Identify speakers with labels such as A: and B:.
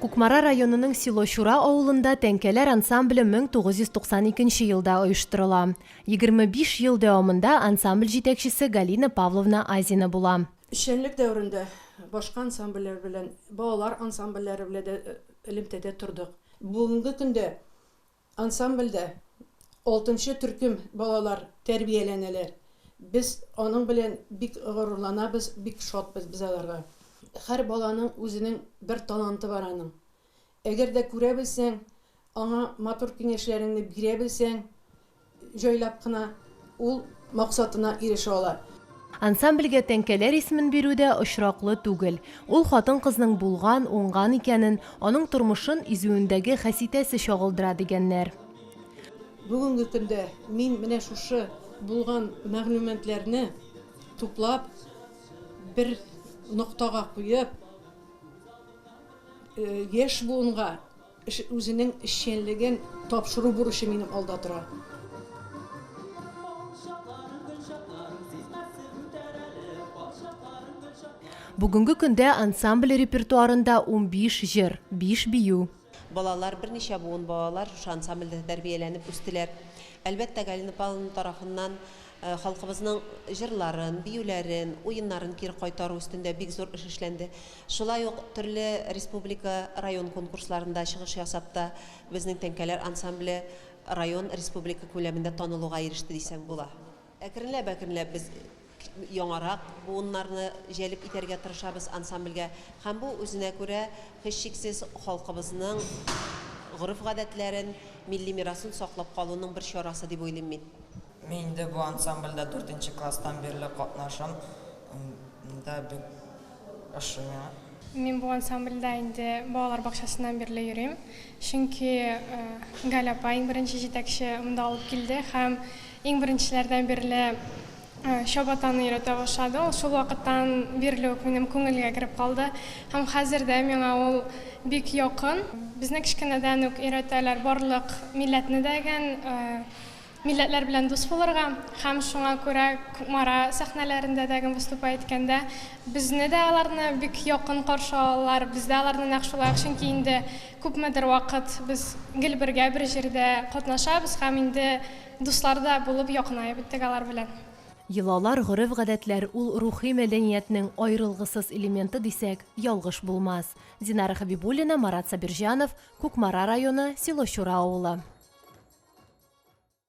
A: Кукмара районының село Чура авылында тәңкәләр ансамбле 1992 елда оештырыла. 25 ел дәвамында ансамбль җитәкчесе Галина Павловна Азина була. Эшчәнлек дәверендә
B: башка ансамбльләр белән, балалар ансамбльләре белән дә элемтәдә тордык. Бүгенге көндә Ансамбльдә алтынчы төркем балалар тәрбияләнәләр. Без аның белән бик горурланабыз, бик шатбыз без аларга. Һәр баланың үзенең бер таланты бар аның. Әгәр дә күрә белсәң, аңа матур киңәшләреңне бирә белсәң, Җайлап кына ул максатына ирешә ала. Ансамбльгә
A: тәңкәләр исемен бирү дә очраклы түгел. Ул хатын-кызның булган, уңган икәнен, аның тормышын изүендәге хәситәсе чагылдыра, дигәннәр.
B: Бүгенге көндә мин менә шушы булган мәгълүматларны туплап, бер ноктага куеп, яшь буынга, Эш үзенең эшчәнлеген тапшыру бурычы минем алда тора.
A: Бүгенге көндә ансамбль репертуарында унбиш җыр, биш бию. Балалар, берничә
C: буын балалар шушы ансамбльдә тәрбияләнеп үстеләр. Әлбәттә, Галина Павловна тарафыннан халкыбызның җырларын, биюләрен, уеннарын кире кайтару өстендә бик зур эш эшләнде. Шулай ук төрле республика, район конкурсларында чыгыш ясап та, безнең тәңкәләр ансамбле район, республика күләмендә танылуга иреште дисәң була. Әкренләп-әкренләп без яңарак буыннарны җәлеп итәргә тырышабыз ансамбльгә һәм бу үзенә күрә һичшиксез халкыбызның гореф-гадәтләрен, милли мирасын саклап калуның бер чарасы дип уйлыйм мин. Мин инде бу
D: ансамбльдә дүртенче класстан бирле катнашам. Мин дә бик ошыйм. Мин бу ансамбльдә
E: инде балалар бакчасыннан бирле йөрим. Чөнки Галя апа, иң беренче җитәкче, монда алып килде һәм иң беренчеләрдән бирле чабатаны өйрәтә башлады. Ул шул вакыттан бирле үк минем күңелгә кереп калды һәм хәзер дә миңа ул бик якын. Безне кечкенәдән үк өйрәтәләр барлык милләтне дә гән милләтләр белән дус булырга һәм шуңа күрә Кукмара сәхнәләрендә дә гем выступать иткәндә безне дә аларны бик якын каршы алалар, без дә аларны нәкъ шулай ук, чөнки инде күпмедер вакыт без гел бергә бер җирдә катнашабыз һәм инде дуслар да булып якынаеп беттек алар белән. Йолалар,
A: гореф-гадәтләр ул рухи мәдәниятнең аерылгысыз элементы дисәк, ялгыш булмас. Динара Хәбибуллина, Марат Сабирҗанов, Кукмара районы, село Чура авылы.